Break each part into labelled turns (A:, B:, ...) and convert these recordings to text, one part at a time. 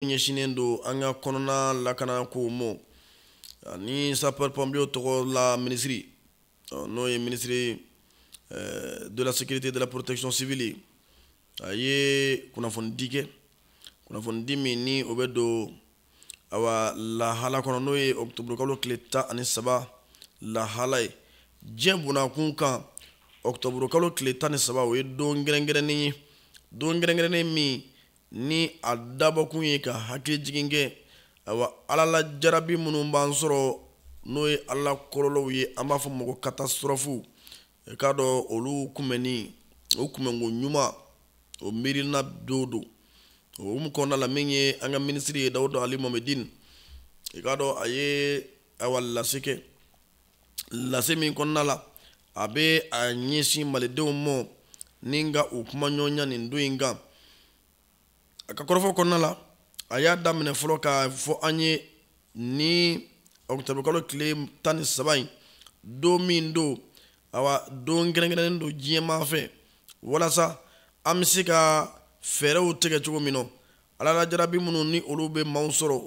A: ɲɛsinnen don an ka kɔnɔna lakana kow mɔ ani sapeur pompier tɔgɔ la minisiri n'o ye minisiri eh, de la sécurité de la protection civile a ye kunnafonidi kɛ kunnafonidi min ni o bɛ don awa lahala kɔnɔ n'o ye octobre kalo tile tan ani saba lahala ye diɲɛ bonnakun kan octobre kalo tile tan ni saba o ye don kɛrɛnkɛrɛnnen ye don kɛrɛnkɛrɛnnen min ni a dabɔkun ye ka hakili jigin kɛ awa alalajarabi minnu b'an sɔrɔ n'o ye ala kɔlɔlɔw ye an b'a fɔ mɔ ko catastrophe i k'a dɔn olu kunbɛnni o kunbɛnko ɲuman o miirina don don o hukumu kɔnɔna la min ye an ka minisiri ye dawuda ali mohamedine i k'a dɔn a ye awa lase kɛ lase min kɔnɔna la a bɛ a ɲɛsin malidenw ma ni ka u kumaɲɔgɔnya nin don in kan a ka kɔrɔfɔ kɔnɔna la a y'a daminɛ fɔlɔ k'a fɔ an ye ni octobre kalo tile tan ni saba in don min don awa don kɛrɛnkɛrɛnnen don diɲɛmaa fɛ walasa an bɛ se ka fɛɛrɛw tigɛ cogo min na alalajarabi minnu ni olu bɛ maaw sɔrɔ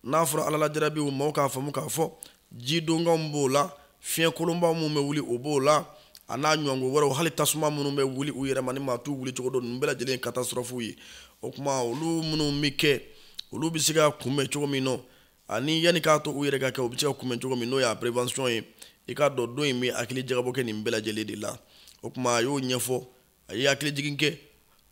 A: n'a fɔra alalajarabiw maaw k'a faamu k'a fɔ jidonkanw b'o la fiɲɛ kolonba minnu bɛ wuli o b'o la a n'a ɲɔgɔn ko wɛrɛw hali tasuma minnu bɛ wuli u yɛrɛ ma ni maa t'u wuli cogo dɔn ninnu bɛɛ lajɛlen ye catastrophe ye o kuma olu minnu bɛ kɛ olu bɛ se ka kunbɛn cogo min nɔ ani yanni k'a to u yɛrɛ ka kɛ u bɛ se ka kunbɛn cogo min n'o y'a prévention ye i k'a dɔn don in bɛ hakili jagabɔ kɛ nin bɛɛ lajɛlen de la o kuma a y'o ɲɛfɔ a ye hakili jigin kɛ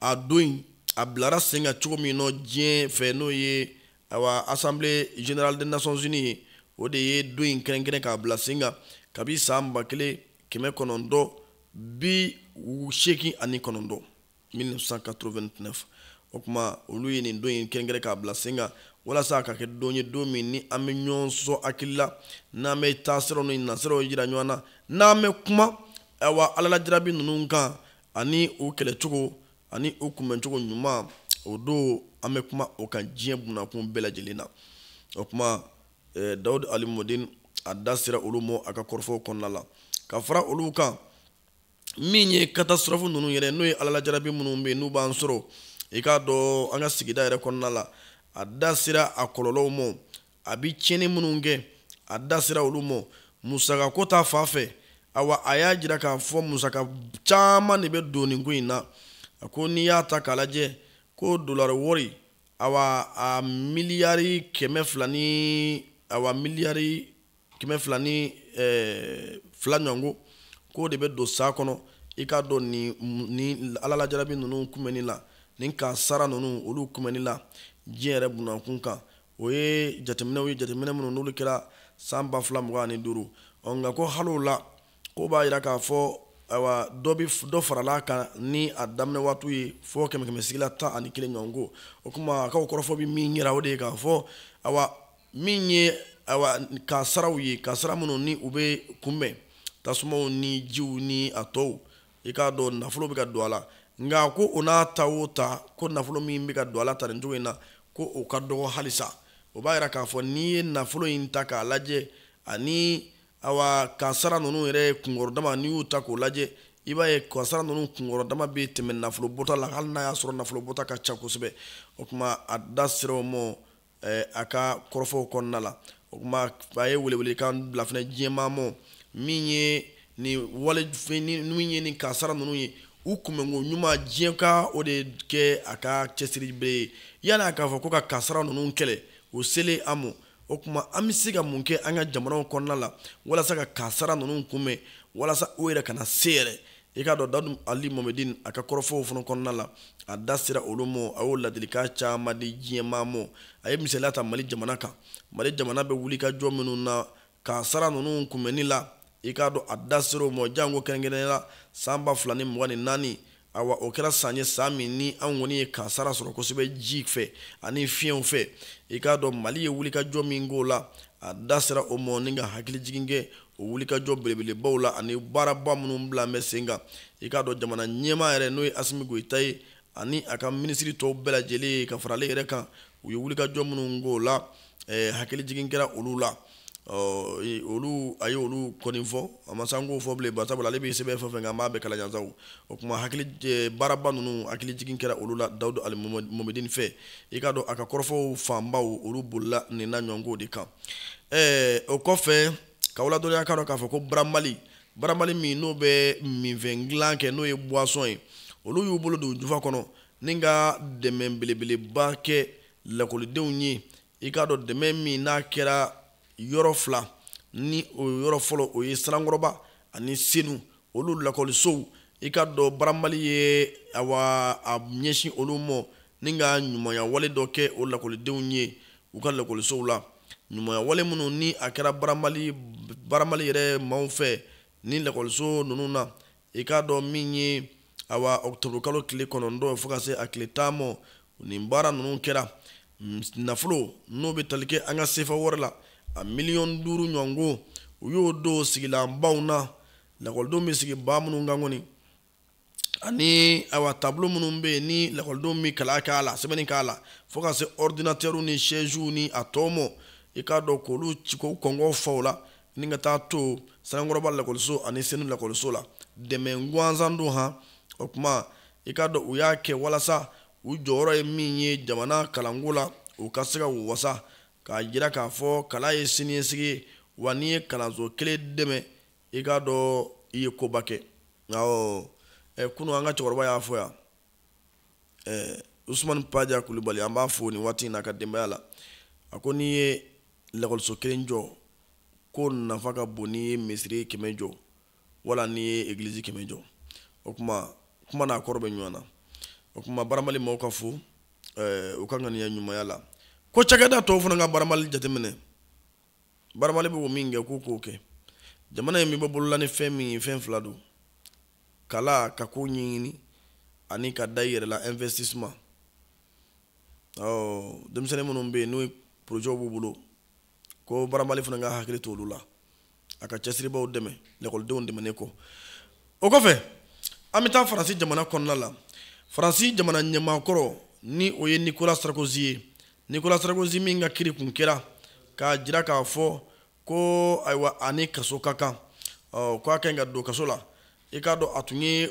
A: a don in a bilara sen kan cogo min nɔ diɲɛ fɛ n'o ye awa assemblée générale des nations unies ye o de ye don in kɛrɛnkɛrɛn k'a bila sen kan kabi san ba kelen kɛmɛ kɔnɔntɔn bi seegin ani kɔnɔntɔn 1989 o kuma olu ye nin don in kɛrɛnkɛrɛn k'a bila sen kan walasa a ka kɛ don ye don min ni an bɛ ɲɔgɔn sɔn hakili la n'an bɛ taasiraw ni nasiraw jira ɲɔgɔn na n'an bɛ kuma awa alalajarabi ninnu kan ani u kɛlɛcogo ani u kunbɛncogo ɲuman o don an bɛ kuma o kan diɲɛ bonnakun bɛɛ lajɛlen na o kuma eh, dawud ali mohamedine a da sera olu ma a ka kɔrɔfɔw kɔnɔna la ka fara olu kan min ye catastrophe ninnu yɛrɛ n'o ye alalajarabi minnu bɛ yen n'u b'an sɔrɔ i k'a dɔn an ka sigida yɛrɛ kɔnɔna la a da sera a kɔlɔlɔw ma a bi tiɲɛni minnu kɛ a da sera olu ma musaka ko ta fan fɛ awa a y'a jira k'a fɔ musaka caman de bɛ don nin ko in na a ko n'i y'a ta k'a lajɛ ko dolari wɔri awa a miliyari kɛmɛ fila ni awa miliyari kɛmɛ fila ni eh, fila ɲɔgɔn ko k'o de bɛ don san kɔnɔ i k'a dɔn ni ni ala la jarabi ninnu kunbɛnni la ni kasara ninnu olu kunbɛnni la diɲɛ yɛrɛ bunankun kan o ye jateminɛw ye jateminɛ minnu n'olu kɛra san ba fila mugan ani duuru ɔ nka ko hali o la k'o b'a yira k'a fɔ awa dɔ bi dɔ farala a kan ni a daminɛ waatiw ye fɔ kɛmɛ kɛmɛ sigila tan ani kelen ɲɔgɔn ko o kuma a ka o kɔrɔfɔ bi min yira o de ye k'a fɔ awa min ye awa kasaraw ye kasara minnu ni u bɛ kunbɛn tasumaw ni jiw ni a tɔw i k'a dɔn nafolo bɛ ka don a la nka ko o n'a ta o ta ko nafolo min bɛ ka don a la tan nin cogo in na ko o ka dɔgɔ halisa o b'a yira k'a fɔ n'i ye nafolo in ta k'a lajɛ ani awa kasara ninnu yɛrɛ kunkɔrɔ dama n'i y'u ta k'o lajɛ i b'a ye kasara ninnu kunkɔrɔ dama bɛ tɛmɛ nafolo bɔta la hali n'a y'a sɔrɔ nafolo bɔta ka ca kosɛbɛ o kuma a da sera o ma eh, a ka kɔrɔfɔw kɔnɔna la o kuma a ye welewelekan bila fana diɲɛmaa mɔ min ye nin wale min ye nin kasara ninnu ye u kunbɛnko ɲuman diɲɛ ka o de kɛ a ka cɛsiri bɛrɛ ye yanni a k'a fɔ ko ka kasara ninnu kɛlɛ o selen an mɔ o kuma an bɛ se ka mun kɛ an ka jamanaw kɔnɔna la walasa ka kasara ninnu kunbɛn walasa u yɛrɛ kana se yɛrɛ i k'a dɔn dawudu ali momedin a ka kɔrɔfɔw fana kɔnɔna la a da sera olu ma a y'o ladilikan caman di diɲɛmaa ma a ye misaliya ta mali jamana kan mali jamana bɛ wulikajɔ minnu na kasara ninnu kunbɛnni la i k'a dɔn a da sera o ma janko kɛrɛnkɛrɛnnenya la san ba fila ni mugan ni naani awa o kɛra san ye san min ni an kɔni ye kasara sɔrɔ kosɛbɛ ji fɛ ani fiɲɛw fɛ i k'a dɔn mali ye wulikajɔ min k'o la a da sera o ma ni ka hakili jigin kɛ o wulikajɔ belebelebaw la ani baaraba minnu bila bɛ sen kan i k'a dɔn jamana ɲɛmaa yɛrɛ n'o ye asimi goyita ye ani a ka minisiri tɔw bɛɛ lajɛlen ye ka fara ale yɛrɛ kan u ye wulikajɔ minnu k'o la eh, hakili jigin kɛra olu la olu a ye olu kɔni fɔ a ma sɔn k'o fɔ bilen bari sabula ale bɛ sɛbɛn fɛn fɛn kan an b'a bɛɛ kalajansaw o kuma hakili eh, baaraba ninnu hakili jigin kɛra olu la dawudu ali momedini fɛ i k'a dɔn a ka kɔrɔfɔw fanbaw olu bolila nin n'a ɲɔgɔn ko de kan ɛɛ o kɔfɛ k'aw ladɔnniya k'a dɔn k'a fɔ ko baramali baramali min n'o bɛ minfɛn dilan kɛ n'o ye buwasɔn ye olu y'u bolo don jufa kɔnɔ ni ka dɛmɛ belebeleba kɛ lakɔlidenw ye i k'a dɔn dɛmɛ min n'a kɛra yɔrɔ fila ni o yɔrɔ fɔlɔ o ye sanankɔrɔba ani senu olu lakɔlisow i k'a dɔn baramali ye awa a ɲɛsin olu mɔ ni ka ɲumanya wale dɔ kɛ o lakɔlidenw ye u ka lakɔlisow la ɲumanya wale minnu ni a kɛra baramali baramali yɛrɛ maaw fɛ ni lakɔliso ninnu na i k'a dɔn min ye awa ɔkutɔburu kalo tile kɔnɔntɔn fo ka se a tile tan mɔ nin baara ninnu kɛra nafolo n'o bɛ tali kɛ an ka sefa wari la a miliyɔn duuru ɲɔgɔn ko u y'o don sigilan banc na lakɔlidenw bɛ sigi banc minnu kan kɔni ani awa tableau minnu bɛ yen ni lakɔlidenw bɛ kalan k'a la sɛbɛnni k'a la fo ka se ordinateur ni chaise ni a tɔ mɔ i k'a dɔn k'olu ci k'o kɔngɔ fa o la ni ka taa to sanankɔrɔba lakɔliso ani senu lakɔliso la dɛmɛ gansan don han o tuma i k'a dɔn u y'a kɛ walasa u jɔyɔrɔ ye min ye jamana kalanko la u ka se ka u wasa k'a jira k'a fɔ kalan ye siniɲɛsigi ye wa n'i ye kalanso kelen dɛmɛ i k'a dɔn i ye koba kɛ nka eh, kunu an ka cɛkɔrɔba y'a fɔ yan eh, usumani paja kulubali an b'a fo nin waati in na a ka denbaya la a ko n'i ye lakɔliso kelen jɔ ko nafa ka bon n'i ye misiri kɛmɛ jɔ wala n'i ye egilizi kɛmɛ jɔ o tuma kuma n'a kɔrɔ bɛ ɲɔgɔn na o tuma baramali maaw ka fo eh, u ka ŋaniya ɲumanya la ko cakɛda tɔw fana ka baramali jateminɛ baramali bɛ o min kɛ k'u k'o kɛ jamana in bɛ bɔ bolo la ni fɛn min ye fɛn fila don kalan ka ko ɲɛɲini ani ka da i yɛrɛ la investissement ɔ denmisɛnnin minnu bɛ yen n'o porojɛw b'u bolo ko baramali fana ka hakili to olu la a ka cɛsiribaaw dɛmɛ lakɔlidenw dɛmɛnen kɔ o kɔfɛ an bɛ taa faransi jamana kɔnɔna la faransi jamana ɲɛmaakɔrɔ ni o ye nicolas sarkozy ye nicolas sarkozy min ka kiri tun kɛra k'a jira k'a fɔ ko ayiwa a ni kaso ka kan ɔ ko a ka ɲi ka don kaso la i k'a dɔn a tun ye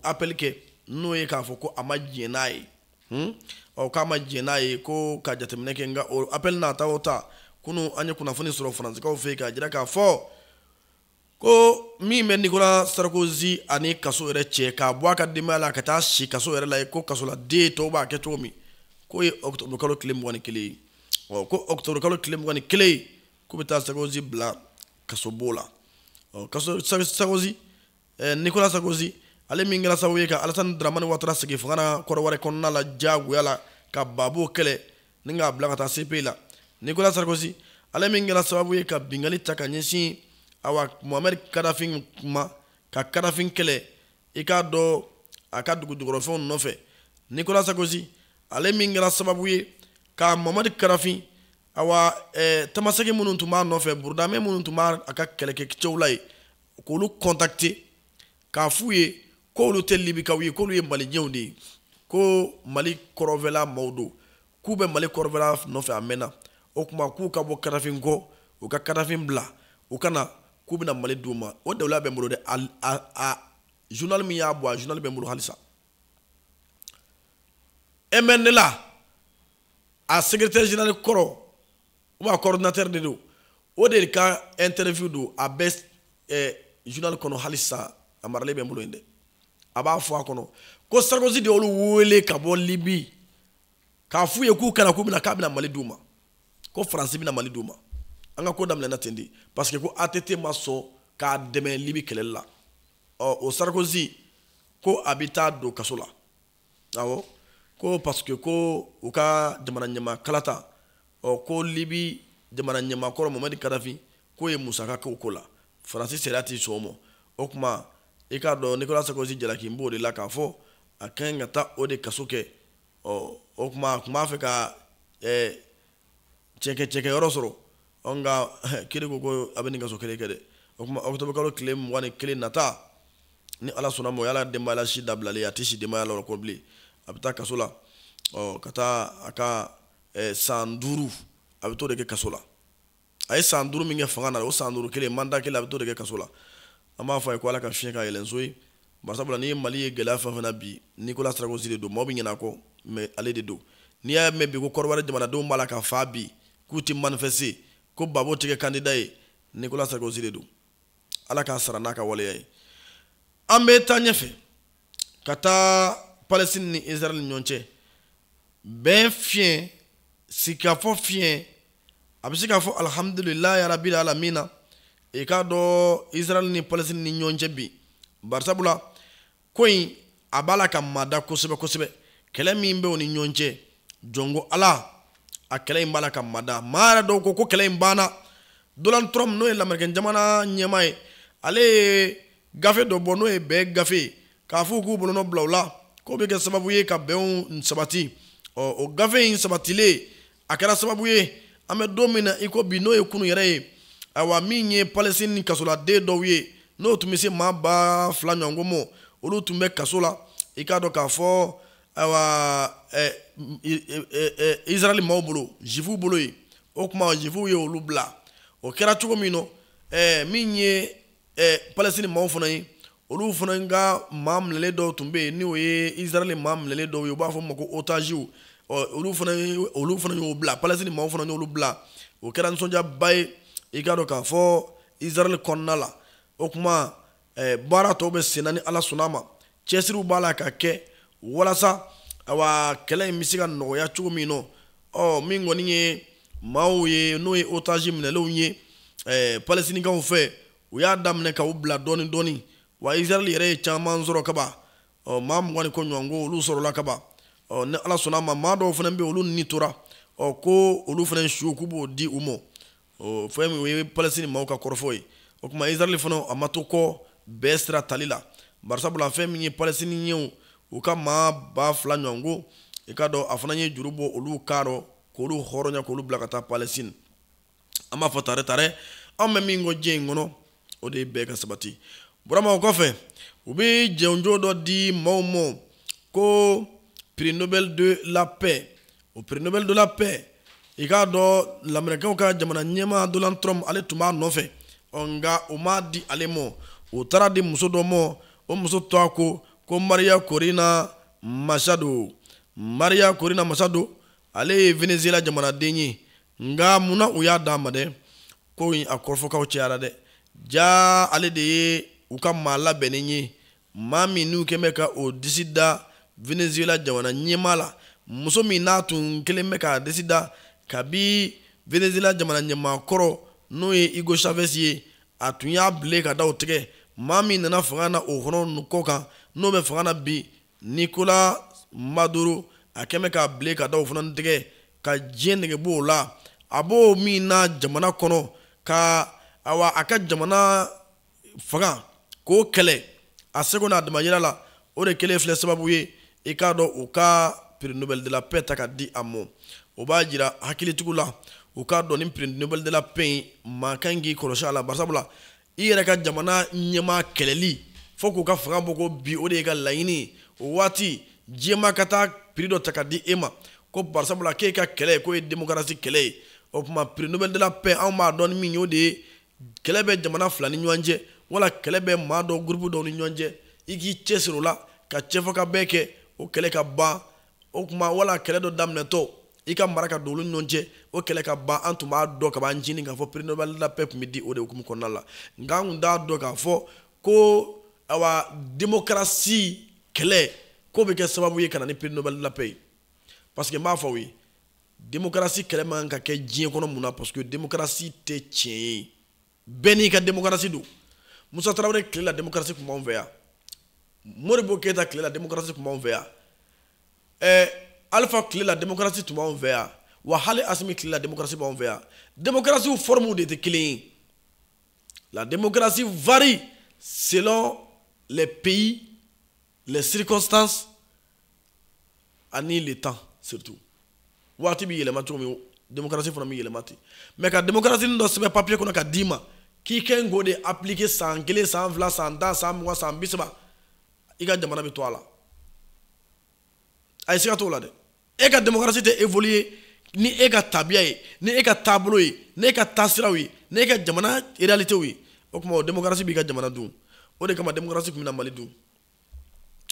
A: appel kɛ n'o ye k'a fɔ ko a ma diɲɛ n'a ye hmm? ɔ k'a ma diɲɛ n'a ye ko ka jateminɛ kɛ nka o appel n'a ta o ta kunu an ye kunnafoni sɔrɔ faransikaw fɛ yen k'a jira k'a fɔ ko min bɛ nicolas sarkozy ani kaso yɛrɛ cɛ k'a bɔ a ka denbaya la ka taa si kaso yɛrɛ la ye ko kasoladen tɔw b'a kɛ cogo min k'o ye octobre kalo tile mugan ni kelen ye ɔ ko octobre kalo tile mugan ni kelen ye k'u bɛ taa sarkozy bila kasobon na ɔ kaso sarkozy eh, nicolas sarkozy ale min kɛra sababu ye ka alasani dramani watara sigi fanga na kɔnɔwari kɔnɔna la diyagoya la ka babo kɛlɛ ni k'a bila ka taa cpi la nicolas sarkozy ale min kɛra sababu ye ka binkanni ta ka ɲɛsin awa mohamɛd kadafin ma ka kadafin kɛlɛ i k'a dɔn a ka dugujukɔrɔfɛnw nɔfɛ nicolas sarkozy ale min kɛra sababu ye ka mohamɛd kadafin awa eh, tamasɛki minnu tun b'a nɔfɛ burudamɛ minnu tun b'a a ka kɛlɛkɛcɛw la ye k'olu kɔntakte k'a f'u ye ko olu tɛ libikaw ye k'olu ye maliɛnw de ye ko mali kɔrɔnfɛla maaw don k'u bɛ mali kɔrɔnfɛla nɔfɛ a mɛnna o tuma k'u ka bɔ kadafi kɔ u ka kadafi bila u ka na k'u bɛna mali d'u ma o daliluya bɛ n bolo dɛ a journal min y'a bɔ a journal bɛ n bolo halisa mnla a secrétaire général kɔrɔ ou bien coordinateur de don o de ka interview don a bɛ eh, journal kɔnɔ halisa a maralen bɛ n bolo yen dɛ a b'a fɔ a kɔnɔ ko sarkozy de y'olu wele ka bɔ libi k'a f'u ye k'u ka na k'u bɛna k'a bɛna mali d'u ma ko faransi bɛna mali d'u ma an ka ko daminɛna ten de parce que ko att ma sɔn k'a dɛmɛ libi kɛlɛli la ɔ o sarkozy ko a bɛ taa don kaso la awɔ ko parce que ko u ka jamana ɲɛmaa kalata ɔ ko libi jamana ɲɛmaa kɔrɔ mamadi kadafi k'o ye musaka k'o ko la faransi sariya tɛ sɔn o ma o tuma i k'a dɔn nicolas sarkozy jalakilen b'o de la k'a fɔ a kan ka taa o de kaso kɛ ɔ o tuma a tun b'a fɛ ka ɛɛ cɛkɛ cɛkɛ yɔrɔ sɔrɔ ɔ nka kiri ko ko a bɛ nin kaso kelen kɛ dɛ o tuma ɔkutɔburu kalo tile mugan ni kelen nata ni ala sɔnn'a ma o y'a la denbaya la si dabilalen a tɛ si denbaya la o kɔ bilen a bɛ taa kaso la ɔ ka taa a ka san duuru a bɛ t'o de kɛ kaso la a ye san duuru min kɛ fanga na o san duuru kelen manda kelen a bɛ t'o de kɛ kaso la an b'a fɔ a ye ko ala ka fiɲɛ ka yɛlɛnso ye barisabula n'i ye mali ye gɛlɛya fɛn fɛn na bi nicolas sarkozy de don maa bɛ ɲinɛ a kɔ mais ale de don n'i y'a mɛn bi ko kɔnɔwari jamanadenw b'a la ka fa bi k'u tɛ manifester ko gbagbo tɛ kɛ kandida ye nicolas sarkozy de don ala k'a sara n'a ka waleya ye an bɛ taa ɲɛfɛ ka taa palestine ni israel ni ɲɔgɔn cɛ bɛn fiɲɛ sigikafɔ fiɲɛ a bɛ se k'a fɔ alihamudulilayi rabil alamina i k'a dɔn israel ni palestine ni ɲɔgɔn cɛ bi barisabula ko in a b'a la ka mada kosɛbɛ kosɛbɛ kɛlɛ min bɛ o ni ɲɔgɔn cɛ jɔn ko ala a kɛlɛ in b'a la ka mada maa yɛrɛ dɔw ko ko kɛlɛ in banna donald trump n'o ye lamerikɛn jamana ɲɛmaa ye ale ye gafe dɔ bɔ n'o ye bɛn gafe ye k'a fɔ u k'u bolonɔ bila o la k'o bɛ kɛ sababu ye ka bɛnw sabati ɔ o gafe in sabatilen a kɛra sababu ye an bɛ don min na i ko bi n'o ye kunu yɛrɛ ye ayiwa min ye palestine kasoladen dɔw ye n'o tun bɛ se maa ba fila ɲɔgɔn ma olu tun bɛ kaso la i k'a dɔn k'a fɔ ayiwa ɛ ɛ israɛli maaw bolo zifuw bolo yen o tuma zifuw ye olu bila o kɛra cogo min na ɛɛ min ye eh, palestine maaw fana ye olu fana ka maa minɛlen dɔw tun bɛ yen n'o ye israɛl maa minɛlen dɔw ye u b'a fɔ ma ko otaziw olu fana olu fana y'o bila palestine maaw fana y'olu bila o kɛra nisɔndiyaba ye i k'a dɔn k'a fɔ israɛl kɔnɔna la o tuma eh, baara tɔw bɛ senna ni ala sɔnna a ma cɛsiriw b'a la ka kɛ walasa awa kɛlɛ in bɛ se ka nɔgɔya cogo min na ɔ min kɔni ye maaw ye n'o ye otage minɛlenw ye eh, palestinikaw fɛ u y'a daminɛ ka u bila dɔɔni dɔɔni wa israɛl yɛrɛ ye caman sɔrɔ kaban ɔ maa mugan ni kɔ ɲɔgɔn ko olu sɔrɔla kaban ɔ ni ala sɔnna a ma maa dɔw fana bɛ olu ni tora ɔ ko olu fana su k'u b'o di u ma o fɛn min o ye palestine maaw ka kɔrɔfɔ ye o tuma israɛl fana a ma to kɔ bɛn sira tali la barisabula fɛn min ye palestiniɲɛw u ka maa ba fila ɲɔgɔn ko i k'a dɔn a fana ye juru bɔ olu kan rɔ k'olu hɔrɔnya k'olu bila ka taa palestine an b'a fɔ tare tare an bɛ min kɔ diɲɛ in kɔnɔ o de ye bɛn ka sabati burama o kɔfɛ u bɛ jɔnjɔn dɔ di maaw ma ko prix nobel de la paix o prix nobel de la paix i k'a dɔn lamerikɛnw ka jamana ɲɛmaa donald trump ale tun b'a nɔfɛ nka o ma di ale ma o taara di muso dɔ ma o muso tɔgɔ ko ko maria corina machado maria corina machado ale ye venezuela jamanaden ye nka munna u y'a d'a ma dɛ ko in a kɔrɔfɔkanw cayara dɛ jaa ale de ye u ka maa labɛnnen ye maa min n'u kɛn bɛ ka u disi da venezuela jamana ɲɛmaa la muso min n'a tun kɛlen bɛ k'a disi da kabi venezuela jamana ɲɛmaa kɔrɔ n'o ye hugo chavez ye a tun y'a bile ka daw tigɛ maa min nana fanga na o kɔnɔ kɔ kan n'o bɛ fanga na bi nicolas maduro a kɛn bɛ ka bile ka daw fana tigɛ ka diɲɛ nege bɔ o la a b'o min na jamana kɔnɔ ka awa a ka jamana fanga k'o kɛlɛ a seko n'a damayira la o de kɛlen filɛ sababu ye i k'a dɔn u ka prix nobel de la paix ta ka di a ma o b'a jira hakilitigiw la u k'a dɔn ni prix nobel de la paix in maa ka kan k'i kɔlɔsi a la barisabula i yɛrɛ ka jamana ɲɛmaa kɛlɛli fo k'u ka fanga bɔ k'o bin o de y'e ka laɲini o waati diɲɛmaa ka taa prix dɔ ta ka di e ma ko barisabula k'e ka kɛlɛ in k'o ye demokarasi kɛlɛ ye o tuma prix nobel de la paix anw b'a dɔn ni min ye o de ye kɛlɛ bɛ jamana fila ni ɲɔgɔn cɛ wala kɛlɛ bɛ maa dɔ gurupu dɔw ni ɲɔgɔn cɛ i k'i cɛsiri o la ka cɛfɔkabɛn kɛ o kɛlɛ ka ban o tuma wala kɛlɛ dɔ daminɛtɔ i ka mara ka don olu ni ɲɔgɔn cɛ o kɛlɛ ka ban an tun b'a dɔn ka b'an jini k'a fɔ prix nobel de la paix tun bɛ di o de hukumu kɔnɔna la nka an tun t'a dɔn k'a fɔ ko awa demokarasi kɛlɛ k'o bɛ kɛ sababu ye ka na ni prix nobel de la paix ye parce que n b'a fɔ aw ye demokarasi kɛlɛ man kan ka kɛ diɲɛ kɔnɔ mun na parce que demokarasi tɛ tiɲɛ ye bɛɛ n'i ka démocratie don musa tarawele tile la démocratie tun b'anw fɛ yan modibo keyita tile la démocratie tun b'anw fɛ yan ɛɛ eh, alifa tile la démocratie tun b'anw fɛ yan wa hali asimi tile la démocratie b'anw fɛ yan démocratiew formew de tɛ kelen ye la démocratie varie selon les pays les circonstances ani le temps surtout waati bɛ yɛlɛma cogo min démocratie fana bɛ yɛlɛma ten mais ka démocratie dɔ sɛbɛn papier kɔnɔ ka d'i ma k'i kɛ k'o de appliquer san kelen san fila san tan san mugan san bi saba i ka jamana bɛ to a la a ye siga t'o la dɛ e ka démocratie tɛ évoluer ni e ka tabiya ye ni e ka taabolo ye ni e ka taasiraw ye ni e ka jamana réalitéw ye o kuma o démocratie b'i ka jamana dun o de kama démocratie kun bɛna mali dun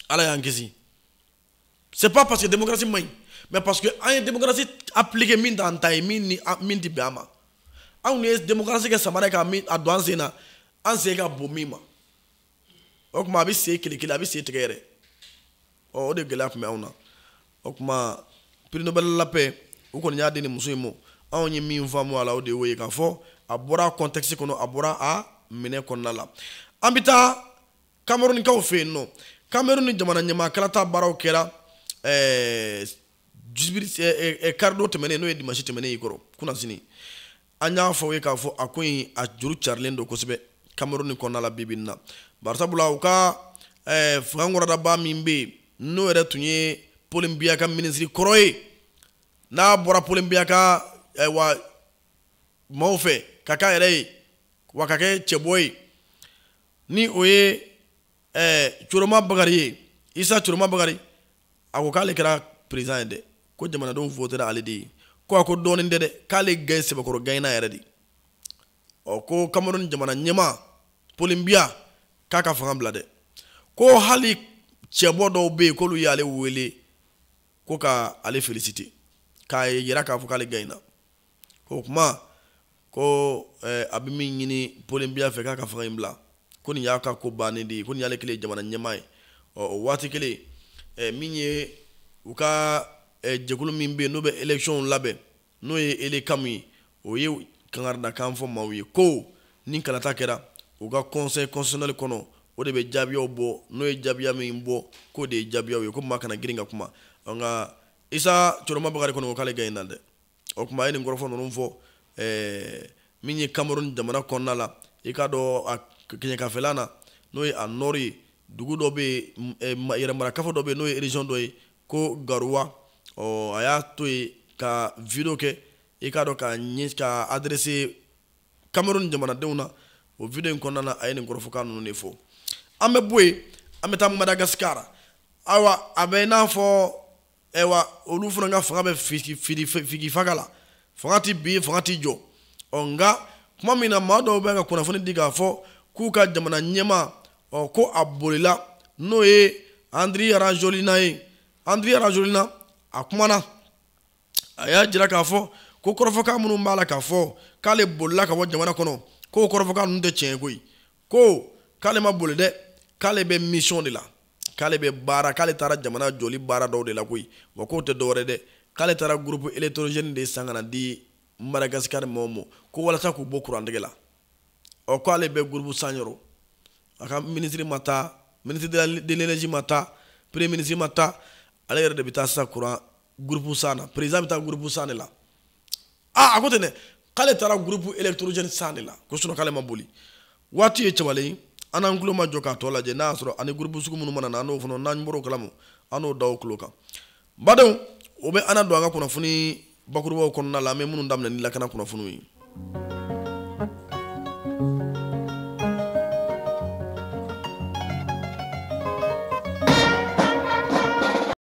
A: ala y'an kisi c'est pas parce que démocratie man ɲi mais parce que an ye démocratie appliquer min t'an ta ye min tɛ bɛn an ma anw ye démocratie kɛ samara ye k'a min a don an sen na an sen ka bon min ma o kuma a bɛ sen kelekele a bɛ sen tigɛ yɛrɛ ɔ o de gɛlɛya kun bɛ anw na o kuma prix nobel la paix u kɔni y'a di nin muso in ma anw ye min faamu a la o de y'o ye k'a fɔ a bɔra contexte kɔnɔ a bɔra a minɛ kɔnɔna la an bɛ taa kamerunikaw fɛ yen nɔ kameruni jamana ɲɛmaa kalata baaraw kɛra ɛɛ eh, jibiri eh, eh, karidon tɛmɛnen n'o ye dimasi tɛmɛnen y'i kɔrɔ kunnasini an y'a fɔ aw ye k'a fɔ a ko in a juru carilen don kosɛbɛ kameruni kɔnɔna la bibi in na barisabula u ka eh, fangakɔrɔdaba min bɛ yen n'o yɛrɛ tun ye paul biya ka minisiri kɔrɔ ye n'a bɔra paul biya ka eh, wa maaw fɛ ka k'a yɛrɛ ye wa ka kɛ cɛbɔ ye ni o ye ɛɛ coroma bakari ye isa coroma bakari a ko k'ale kɛra président ye dɛ ko jamanadenw votera ale de ye ko a ko dɔɔnin tɛ dɛ k'ale gaɲe sɛbɛkɔrɔ gaɲena yɛrɛ de ɔ ko kamerun jamana ɲɛmaa paul biya k'a ka fanga bila dɛ ko hali cɛbɔ dɔw bɛ yen k'olu y'ale wele ko ka ale féliciter k'a yira k'a fɔ k'ale gaɲena o kuma ko eh, a bɛ min ɲini paul biya fɛ k'a ka fanga in bila ko nin y'a ka ko bannen de ye ko nin y'ale kɛlen jamana ɲɛmaa ye ɔ o waati kelen eh, min ye u ka eh, jɛkulu min bɛ yen n'o bɛ électionw labɛn n'o ye elecam ye o ye kangaridakan fɔ maaw ye ko ni kalata kɛra u ka conseil constitutionnel kɔnɔ o de bɛ jaabiyaw bɔ n'o ye jaabiya min bɔ k'o de ye jaabiyaw ye ko maa kana girin ka kuma nka isa coroma bakari kɔni ko k'ale gaɲena dɛ o kuma a ye nin kɔrɔfɔ ninnu fɔ eh, min ye cameroun jamana kɔnɔna la i k'a dɔn a kɛɲɛkafɛla na n'o ye a nord ye dugu dɔ bɛ yen eh, yɛrɛmarakafo dɔ bɛ yen n'o ye région dɔ ye ko garoua ɔ a y'a to yen ka vidéo kɛ i k'a dɔn k'a ɲɛ ka adressé cameroun jamanadenw na o vidéo in kɔnɔna na a ye nin kɔrɔfɔkan ninnu de fɔ an bɛ bɔ yen an bɛ taa madagascar ayiwa a bɛ i n'a fɔ ayiwa olu fana ka fanga bɛ figifaga la fanga ti bin fanga ti jɔ ɔ nka kuma min na maa dɔw bɛ ka kunnafoni di k'a fɔ k'u ka jamana ɲɛmaa ɔ ko a bolila n'o ye andry rajoelina ye andry rajoelina a kumana a y'a jira k'a fɔ ko kɔrɔfɔkan minnu b'a la k'a fɔ k'ale bolila ka bɔ jamana kɔnɔ k'o kɔrɔfɔkan ninnu tɛ tiɲɛ ye koyi ko k'ale ma boli dɛ k'ale bɛ misiyɔn de la k'ale bɛ baara k'ale taara jamana jɔli baara dɔw de la koyi wa k'o tɛ dɔwɛrɛ dɛ k'ale taara gurupu électrogène de san ka na di Madagascar mɔgɔw ma ko walasa k'u bɔ kurantigɛ la ɔ k'ale bɛ gurupu san yɔrɔ a ka minisiri ma taa minisiri de l'énergie ma taa premier minisiri ma taa ale yɛrɛ de bɛ taa sisan kuran gurupu san na président bɛ taa gurupu san de la aa a ko ten dɛ k'ale taara gurupu elektorojɛni san de la ko sinon k'ale ma boli waati ye cɛbalen ye an n'an tulomajɔ k'a tɔ lajɛ n'a y'a sɔrɔ ani gurupu sugu minnu mana na an n'o fana n'an bɔr'o kalama an n'o da aw tulo kan badenw o bɛ an na don an ka kunnafoni bakurubaw kɔnɔna la an bɛ minnu daminɛ ni lakana kunnafoniw ye